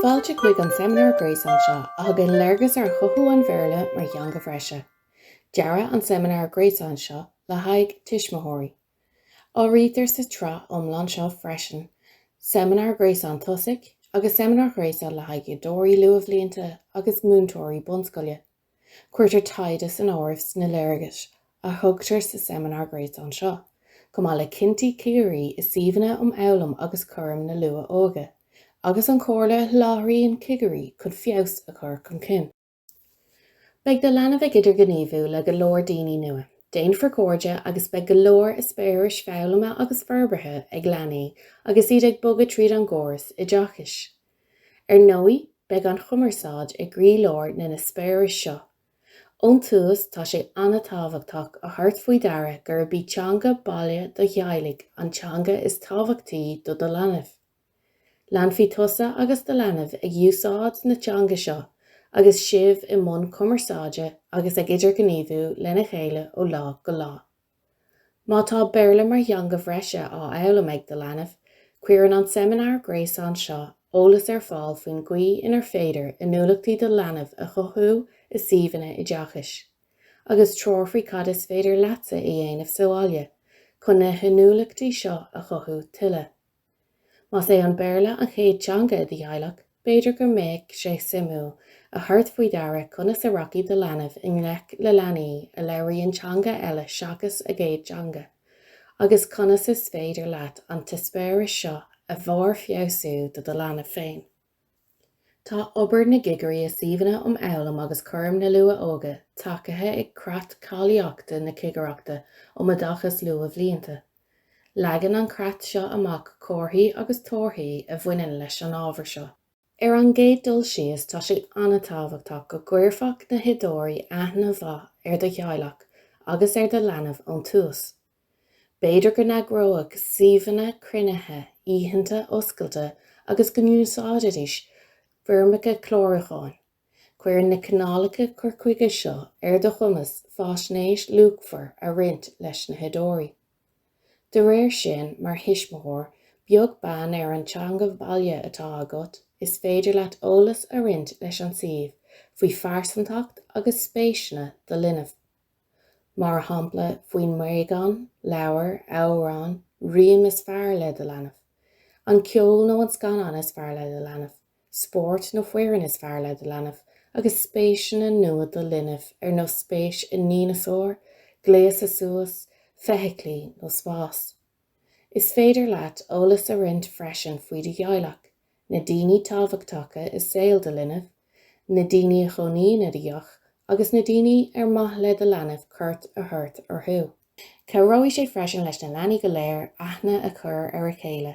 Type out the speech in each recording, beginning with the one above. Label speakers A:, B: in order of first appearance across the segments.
A: Fáilte chuig an seimineár gréasáin seo a thugann léargas ar chothú an Bhéarla mar theanga bhreise. Dearadh an seimineár gréasáin seo le haghaidh tuismitheoirí. Áirítear sa tsraith iomlán seo freisin seimineár gréasáin tosaigh agus seimineár gréasáin le haghaidh oideoirí luathbhlianta agus múinteoirí bunscoile. Cuirtear taighde san áireamh sna léargais a thugtar sa seimineár gréasáin seo, chomh maith le cinntí cigirí i suíomhanna um fhoghlaim agus cúram na luath-óige, agus an chomhairle a sholáthraíonn cigirí chun feabhas a chur chun cinn. Beidh do leanbh ag idirghníomhú le go leor daoine nua, déanfar cairde agus beidh go leor eispéiris foghlama agus forbartha ag leanaí agus iad ag bogadh tríd an gcóras oideachais. Ar ndóigh, beidh an chumarsáid i gcroílár na n-eispéireas seo. Ón tús, tá sé an-tábhachtach a thabhairt faoi deara gurb í teanga baile do theaghlaigh an teanga is tábhachtaí do do leanbh. Leanfaidh tusa agus do leanbh ag úsáid na teanga seo agus sibh i mbun cumarsáide agus ag idirghníomhú lena chéile ó lá go lá. Má tá Béarla mar theanga bhreise á fhoghlaim ag do leanbh, cuireann an seimineár gréasáin seo eolas ar fáil faoin gcaoi inar féidir inniúlachtaí do leanbh a chothú i suíomhanna oideachais, agus treoir faoi cad is féidir leatsa a dhéanamh sa bhaile chun na hinniúlachtaí seo a chothú tuilleadh. Más é an Béarla an chéad teanga i do theaghlach, b'fhéidir go mbeadh sé suimiúil a thabhairt faoi deara conas a rachaidh do leanbh i ngleic le leanaí a labhraíonn teanga eile seachas a gcéad teanga, agus conas is féidir leat an t-eispéireas seo a bharrfheabhsú do do leanbh féin. Tá obair na gcigirí i suíomhanna um fhoghlaim agus cúram na luath-óige tacaithe ag Creat Cáilíochta na Cigireachta um Oideachas Luathbhlianta. Leagann an creat seo amach comharthaí agus torthaí a bhaineann leis an ábhar seo. Ar an gcéad dul síos, tá sé an-tábhachtach go gcuirfeadh na hoideoirí aithne mhaith ar do theaghlach agus ar do leanbh ón tús. B'fhéidir go n-eagródh suíomhanna cruinnithe oícheanta oscailte agus go n-úsáidfidís foirmeacha clárúcháin. Cuireann na cineálacha cur chuige seo ar do chumas faisnéis luachmhar a roinnt leis na hoideoirí. De réir sin, mar thuismitheoir, beag beann ar an teanga bhaile atá agat, is féidir leat eolas a roinnt leis an suíomh faoi phearsantacht agus spéiseanna do linbh. mar shampla faoin mbréagán, leabhar, amhrán, rím is fearr le do leanbh, an ceol nó an scannán is fearr le do leanbh, spórt nó foireann is fearr le do leanbh, agus spéiseanna nua do linbh ar nós spéis i ndíneasáir, gléasadh suas, feithiclí nó spás. Is féidir leat eolas a roinnt freisin faoi do theaghlach, na daoine tábhachtacha i saol do linbh, na daoine a chónaíonn i do theach agus na daoine ar maith le do leanbh cuairt a thabhairt orthu. Cabhróidh sé freisin leis na leanaí go léir aithne a chur ar a chéile,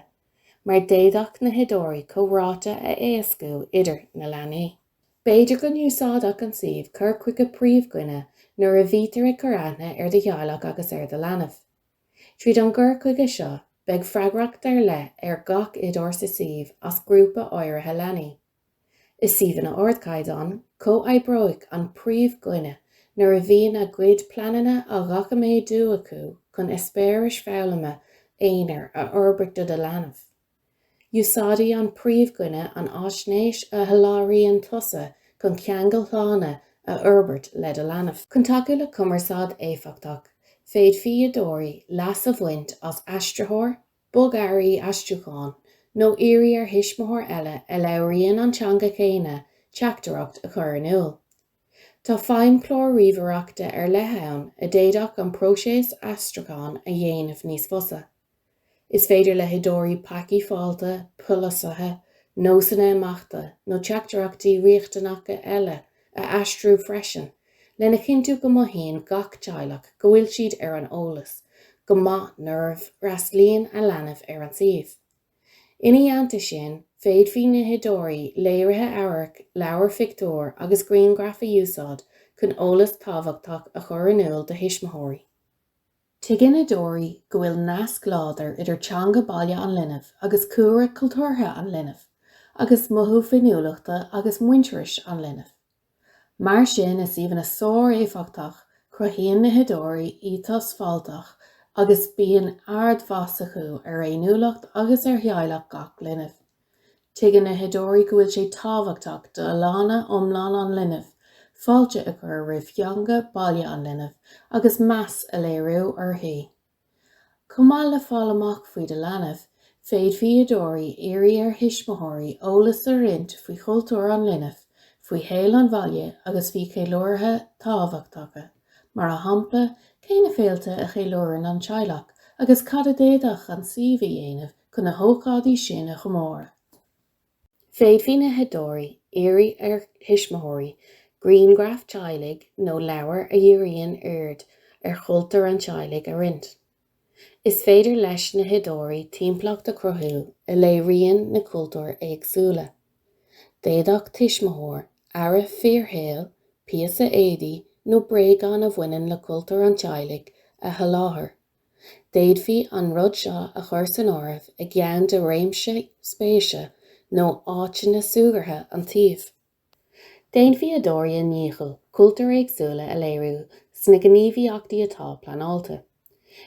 A: mar d'fhéadfadh na hoideoirí comhráite a éascú idir na leanaí. B'fhéidir go n-úsáidfeadh an suíomh cur chuige príomhdhuine nuair a bhítear ag cur aithne ar do theaghlach agus ar do leanbh. Tríd an gcur chuige seo, beidh freagracht ar leith ar gach oideoir sa suíomh as grúpa áirithe leanaí. I suíomhanna ardchaighdeáin, comhoibreoidh an príomhdhuine nuair a bhíonn a gcuid pleananna á ndoiciméadú acu chun eispéiris foghlama aonair a fhorbairt do do leanbh. Úsáidfidh an príomhdhuine an fhaisnéis a sholáthraíonn tusa chun ceangail shlána a fhorbairt le do leanbh. Chun tacú le cumarsáid éifeachtach, féadfaidh oideoirí leas a bhaint as aistritheoir, bogearraí aistriúcháin, nó iarraidh ar thuismitheoir eile a labhraíonn an teanga chéanna teachtaireacht a chur in iúl. Tá feidhmchlár ríomhaireachta ar leith ann a d'fhéadfadh an próiseas aistriúcháin a dhéanamh níos fusa. Is féidir le hoideoirí pacaí fáilte, polasaithe, nósanna imeachta nó teachtaireachtaí riachtanacha eile a aistriú freisin lena chinntiú go mothaíonn gach teaghlach go bhfuil siad ar an eolas go maith nuair a fhreastlaíonn a leanbh ar an suíomh. Ina theannta sin, féadfaidh na hoideoirí léirithe amhairc, leabhair phictiúr agus grianghraif a úsáid chun eolas tábhachtach a chur in iúl do thuismitheoirí. Tuigeann oideoirí go bhfuil nasc láidir idir teanga baile an linbh agus cúlra cultúrtha an linbh agus mothú féiniúlachta agus muintearais an linbh. Mar sin i suíomhanna sár-éifeachtach cruthaíonn na hoideoirí éiteas fáilteach agus bíonn ardmheas acu ar fhéiniúlacht agus ar theaghlach gach linbh. Tuigeann na hoideoirí go bhfuil sé tábhachtach d'fholláine iomlán an linbh fáilte a chur roimh theanga baile an linbh agus meas a léiriú uirthi. Chomh maith le fáil amach faoi do leanbh, féadfaidh oideoirí iarraidh ar thuismitheoirí eolas a roinnt faoi chultúr an linbh, faoi shaol an bhaile agus faoi cheiliúrtha tábhachtacha, mar a shampla, cé na féilte a cheiliúrann an teaghlach agus cad a d'fhéadfadh an suíomh a dhéanamh chun na hócáidí sin a chomóradh. Féadfaidh na hoideoirí iarraidh ar thuismitheoirí grianghraif teaghlaigh nó leabhair a dhíríonn aird ar chultúr an teaghlaigh a roinnt. Is féidir leis na hoideoirí timpeallacht a chruthú a léiríonn na cultúir éagsúla. D'fhéadfadh tuismitheoir earra fíorshaoil, píosa éadaí nó bréagán a bhaineann le cultúr an teaghlaigh, a sholáthar. D'fhéadfaí an rud seo a chur san áireamh i gceann de réimse spéise nó áiteanna súgartha an tsuímh. Déanfaidh oideoirí a ndícheall cultúir éagsúla a léiriú sna gníomhaíochtaí atá pleanáilte.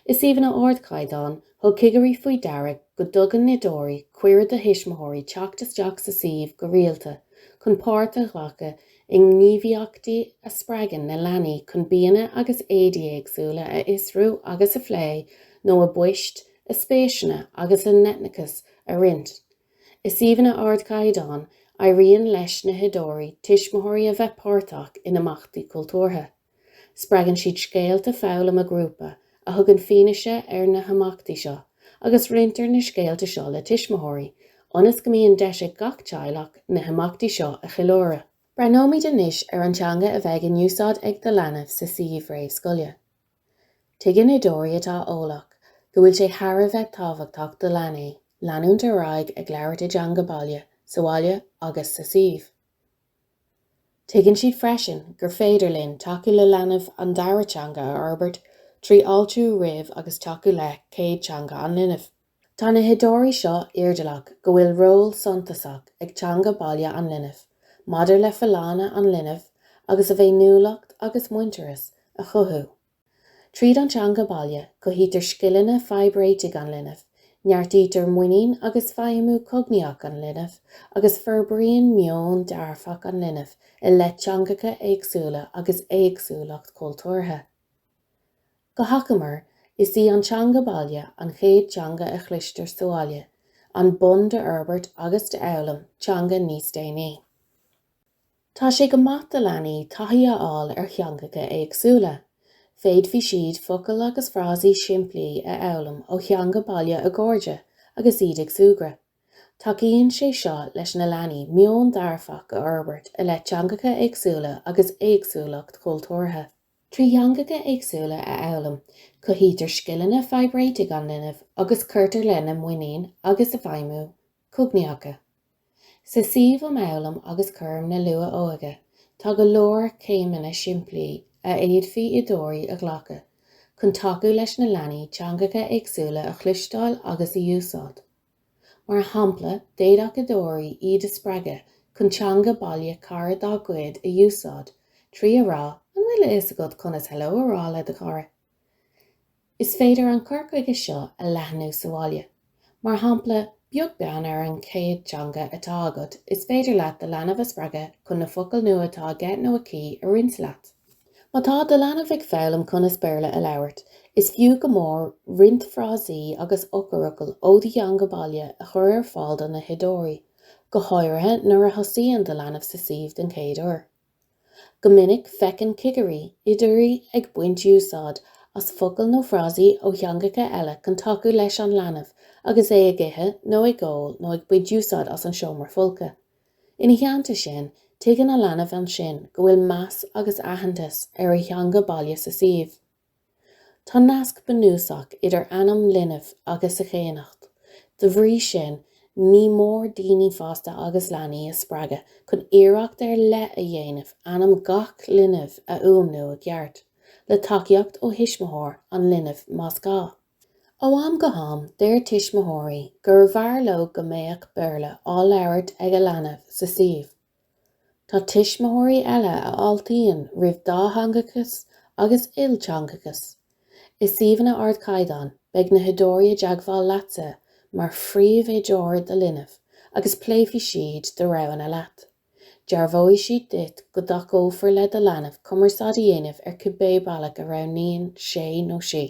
A: I suíomhanna ardchaighdeáin, thug cigirí faoi deara go dtugann na hoideoirí cuireadh do thuismitheoirí teacht isteach sa suíomh go rialta chun páirt a ghlacadh I ngníomhaíochtaí a spreagann na leanaí chun bianna agus éadaí éagsúla a fhiosrú agus a phlé nó a bpoist, a spéiseanna agus a n-eitneachas a roinnt i suíomhanna ardchaighdeáin, éiríonn leis na hoideoirí, tuismitheoirí a bheith páirteach in imeachtaí cultúrtha. Spreagann siad scéalta foghlama grúpa a thugann fianaise ar na himeachtaí seo agus roinntear na scéalta seo le tuismitheoirí ionas go mbíonn deis ag gach teaghlach na himeachtaí seo a cheiliúradh. Breathnóimid anois ar an teanga a bheidh in úsáid ag do leanbh sa suíomh réamhscoile. Tuigeann oideoirí atá eolach go bhfuil sé thar a bheith tábhachtach do leanaí leanúint ar aghaidh ag labhairt a dteanga baile sa bhaile agus sa suíomh. Tuigeann siad freisin gur féidir linn tacú le leanbh an dara teanga a fhorbairt trí fháiltiú roimh agus tacú le céad teanga an linbh. Tá na hoideoirí seo airdeallach go bhfuil ról suntasach ag teanga baile an linbh maidir le folláine an linbh agus a bhféiniúlacht agus muintearas a chothú. Tríd an teanga baile, cothaítear scileanna fadhbréitigh an linbh, neartaítear muinín agus feidhmiú cognaíoch an linbh, agus forbraíonn meon dearfach an linbh i leith teangacha éagsúla agus éagsúlacht chultúrtha. Go hachomair, is í an teanga baile an chéad teanga a chloistear sa bhaile, an bonn d'fhorbairt agus d'fhoghlaim teanga níos déanaí. Tá sé go maith do leanaí taithí a fháil ar theangacha éagsúla. Féadfaidh siad focail agus frásaí simplí a fhoghlaim ó theanga baile a gcairde agus iad ag súgradh. Tacaíonn sé seo leis na leanaí meon dearfach a fhorbairt i leith teangacha éagsúla agus éagsúlacht chultúrtha. Trí theangacha éagsúla a fhoghlaim, cothaítear scileanna fadhbréitigh an linbh agus cuirtear lena muinín agus a bhfeidhmiú cognaíocha. Sa suíomh um Fhoghlaim agus Cúram na Luath-Óige tá go leor céimeanna simplí a fhéadfadh oideoirí a ghlacadh chun tacú leis na leanaí teangacha éagsúla a chloisteáil agus a úsáid. Mar shampla, d'fhéadfadh oideoirí iad a spreagadh chun teanga baile cara dá gcuid a úsáid trí a rá An bhfuil a fhios agat conas 'Hello' a rá le do chara? Is féidir an cur chuige seo a leathnú sa bhaile. Mar shampla beag beann ar an chéad teanga atá agat is féidir leat do leanbh a spreagadh chun na focail nua atá aige nó aici a roinnt leat. Má tá do leanbh ag foghlaim conas Béarla a labhairt, is fiú go mór roinnt frásaí agus eochairfhocail ó do theanga baile a chur ar fáil do na hoideoirí, go háirithe nuair a thosaíonn do leanbh sa suíomh den chéad uair. Go minic feiceann cigirí, oideoirí ag baint úsáid as focail nó frásaí ó theangacha eile chun tacú leis an leanbh agus é ag ithe nó ag ól nó ag baint úsáid as an seomra folctha. Ina theannta sin, tuigeann an leanbh ansin go bhfuil meas agus aitheantas ar a theanga baile sa suíomh. Tá nasc bunúsach idir ainm linbh agus a chéannacht. Dá bhrí sin, ní mór daoine fásta agus leanaí a spreagadh chun iarracht ar leith a dhéanamh ainm gach linbh a fhuaimniú i gceart, le tacaíocht ó thuismitheoir an linbh más gá. Ó am go ham, deir tuismitheoirí gurbh fhearr leo go mbeadh Béarla á labhairt ag a leanbh sa suíomh. Tá tuismitheoirí eile a fháiltíonn roimh dátheangachas agus ilteangachas. I suíomhanna ardchaighdeáin, beidh na hoideoirí i dteagmháil leatsa mar phríomhoideoir do linbh agus pléifidh siad do roghanna leat. Dearbhóidh siad duit go dtacófar le do leanbh cumarsáid a dhéanamh ar cibé bealach a roghnaíonn sé nó sí.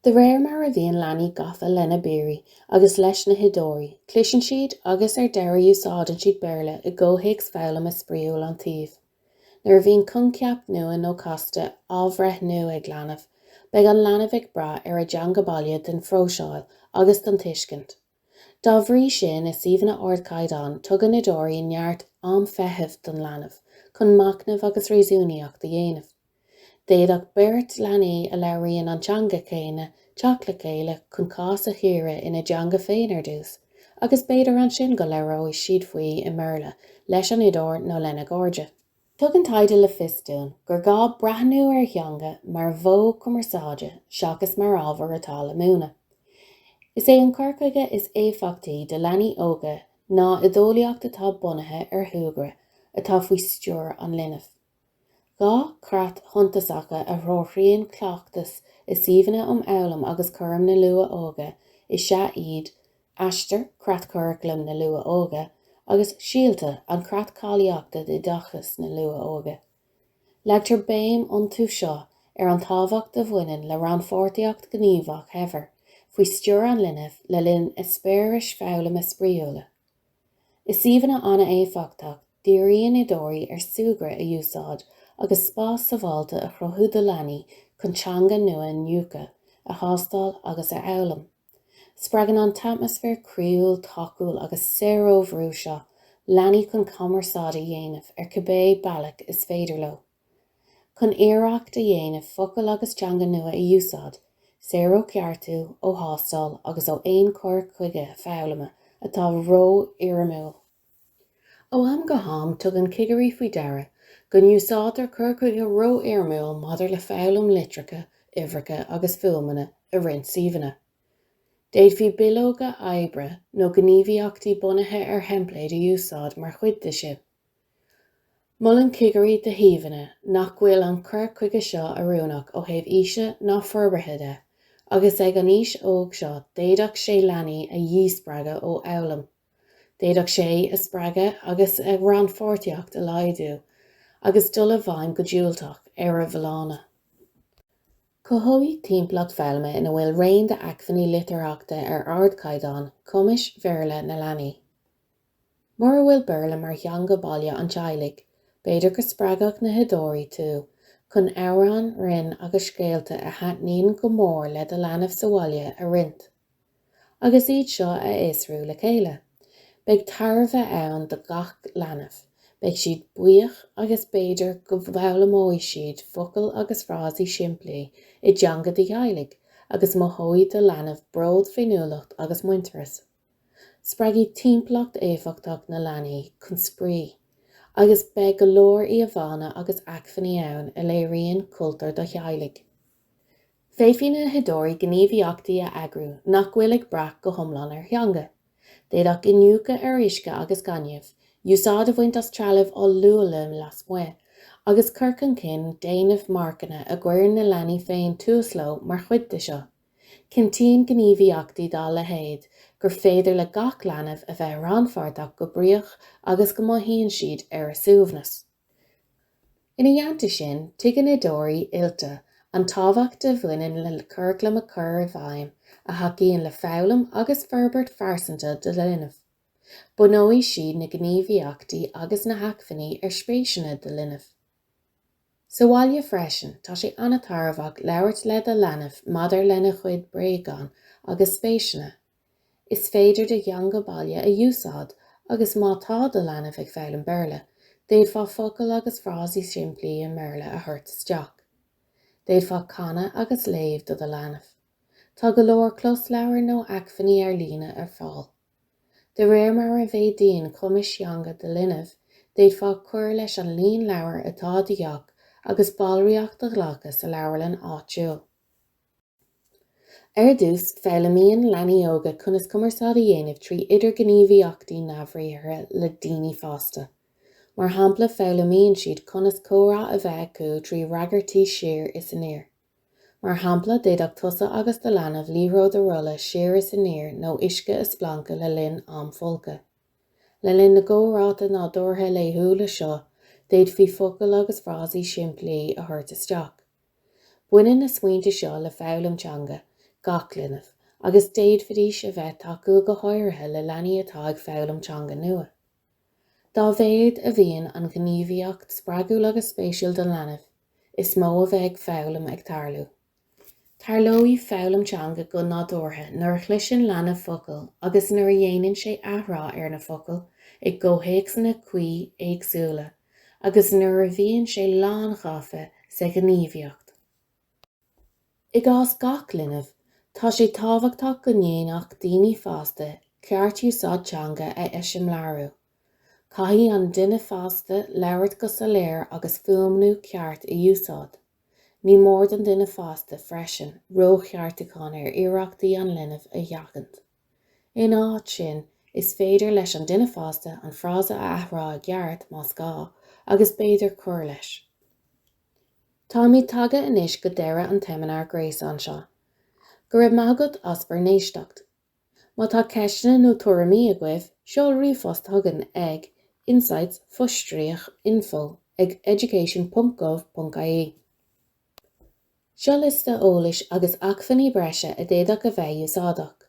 A: De réir mar a bhíonn leanaí gafa lena bpiaraí agus leis na hoideoirí, cloiseann siad agus ar deireadh úsáideann siad Béarla i gcomhthéacs foghlama spraíúil an tsuímh. Nuair a bhíonn coincheap nua nó casta á bhreithniú ag leanbh, beidh an leanbh ag brath ar a dteanga baile don phróiseáil agus don tuiscint. Dá bhrí sin, i suíomhanna ardchaighdeáin, tugann oideoirí neart am feithimh don leanbh chun machnamh agus réasúnaíocht a dhéanamh. D'fhéadfadh beirt leanaí a labhraíonn an teanga chéanna teacht le chéile chun cás a chíoradh ina dteanga féin ar dtús, agus b'fhéidir ansin go labhróidh siad faoi i mBéarla leis an oideoir nó lena gcairde. Tugann taighde le fios dúinn gur gá breathnú ar theanga mar mhodh cumarsáide seachas mar ábhar atá le múineadh. Is é an cur chuige is éifeachtaí do leanaí óga ná oideolaíocht atá bunaithe ar shúgradh atá faoi stiúir an linbh. Dhá chreat shuntasacha a threoraíonn cleachtas i suíomhanna um fhoghlaim agus cúram na luath-óige is ea iad Aistear, Creatchuraclam na Luath-Óige agus Síolta an Creat Cáilíochta d'Oideachas na Luath-Óige. Leagtar béim iontu seo ar an tábhacht a bhaineann le rannpháirtíocht ghníomhach shaibhir faoi stiúir an linbh le linn eispéiris foghlama spraíúla. I suíomhanna an-éifeachtach, díríonn oideoirí ar súgradh a úsáid agus spás sábháilte a chruthú do leanaí chun teanga nua a iniúchadh, a thástáil agus a fhoghlaim. Spreagann an t-atmaisféar croíúil, tacúil agus saor ó bhrú seo leanaí chun cumarsáid a dhéanamh ar cibé bealach is féidir leo. Chun iarracht a dhéanamh focail agus teanga nua a úsáid, saor ó cheartú, ó thástáil agus ó aon chur chuige foghlama atá ró-fhoirmiúil. Ó am go ham tugann cigirí faoi deara go n-úsáidtear cur chuige ró-fhoirmiúil maidir le foghlaim litreacha, uimhreacha agus fuaimeanna i roinnt suíomhanna. D'fhéadfaí bileoga oibre nó gníomhaíochtaí bunaithe ar theimpléid a úsáid mar chuid de sin. Molann cigirí do shuíomhanna nach bhfuil an cur chuige seo oiriúnach ó thaobh aoise ná forbartha de agus ag an aois óg seo d'fhéadfadh sé leanaí a dhíspreagadh ó fhoghlaim D'fhéadfadh sé a spreagadh agus a rannpháirtíocht a laghdú agus dul i bhfeidhm go diúltach ar a bhfolláine. Cothóidh timpeallacht foghlama ina bhfuil raon d'acmhainní litearthachta ar ardchaighdeán cumas Béarla na leanaí. Mura bhfuil Béarla mar theanga baile an teaghlaigh, b'fhéidir go spreagfaidh na hoideoirí tú chun amhráin, rainn agus scéalta a thaitníonn go mór le do leanbh sa bhaile a roinnt. agus iad seo a fhiosrú le chéile. Beidh tairbhe ann do gach leanbh, beidh siad buíoch agus b'fhéidir go bhfoghlaimeoidh siad focail agus frásaí simplí i dteanga do theaghlaigh agus mothóidh do leanbh bród, féiniúlacht agus muintearas. Spreagfaidh timpeallacht éifeachtach na leanaí chun spraoi agus beidh go leor íomhánna agus acmhainní ann a léiríonn cultúr do theaghlaigh. Féadfaidh na hoideoirí gníomhaíochtaí a eagrú nach bhfuil ag brath go hiomlán ar theanga. D'fhéadfadh iniúchadh ar uisce agus gaineamh, úsáid a bhaint as trealamh oll-luaile lasmuigh, agus cur chun cinn déanamh marcanna a gcuireann na leanaí féin tús leo mar chuid de seo. Cinntíonn gníomhaíochtaí dá leithéid gur féidir le gach leanbh a bheith rannpháirteach go bríoch agus go mothaíonn siad ar a suaimhneas. Ina theannta sin, tuigeann oideoirí oilte an tábhacht a bhaineann le curaclam a chur i bhfeidhm a thacaíonn le foghlaim agus forbairt phearsanta do linbh. Bunóidh siad na gníomhaíochtaí agus na hacmhainní ar spéiseanna do linbh. Sa bhaile freisin, tá sé an-tairbheach labhairt le do leanbh maidir lena chuid bréagán agus spéiseanna. Is féidir do theanga baile a úsáid agus má tá do leanbh ag foghlaim Béarla, d'fhéadfá focail agus frásaí simplí i mBéarla a thabhairt isteach. D'fhéadfá canadh agus léamh do do leanbh. Tá go leor closleabhar nó acmhainní ar líne ar fáil. De réir mar a mhéadaíonn cumais theanga do linbh, d'fhéadfá cur leis an líon leabhar atá i do theach agus ballraíocht a ghlacadh sa leabharlann áitiúil. Ar dtús, foghlaimíonn leanaí óga conas cumarsáid a dhéanamh trí idirghníomhaíochtaí neamhbhriathartha le daoine fásta. Mar shampla, foghlaimíonn siad conas comhrá a bheith acu trí fhreagairtí siar is aniar. Mar shampla, d'fhéadfadh tusa agus do leanbh liathróid a rolladh siar is aniar nó uisce a spleancadh le linn am folctha. Le linn na gcomhráite nádúrtha laethúla seo, d'fhéadfaí focail agus frásaí simplí a thabhairt isteach. Baineann na smaointe seo le foghlaim teanga gach linbh agus d'fhéadfaidís a bheith tacúil go háirithe le leanaí atá ag foghlaim teanga nua. Dá mhéad a bhíonn an ghníomhaíocht spreagúil agus spéisiúil don leanbh, is mó a bheidh foghlaim ag tarlú. Tarlóidh foghlaim teanga go nádúrtha nuair a chloiseann leanbh focail agus nuair a dhéanann sé athrá ar na focail i gcomhthéacsanna cuí éagsúla. agus nuair a bhíonn sé lánghafa sa ghníomhaíocht. I gcás gach linbh, tá sé tábhachtach go ndéanfadh daoine fásta ceartúsáid teanga a eiseamláiriú. Caithfidh an duine fásta labhairt go soiléir agus fuaimniú ceart a úsáid. Ní mór don duine fásta freisin rócheartúchán ar iarrachtaí an linbh a sheachaint. In áit sin, is féidir leis an duine fásta an frása a athrá i gceart, más gá, agus b'fhéidir cur leis. Táimid tagtha anois go deireadh an tseimineáir gréasáin seo. Go raibh maith agat as bhur n-éisteacht. Má tá ceisteanna nó tuairimí agaibh, seol ríomhphost chugainn ag, insights, fo-stríoc, info, ag, education ponc gov ponc ie. Seo liosta eolais agus acmhainní breise a d'fhéadfadh a bheith úsáideach.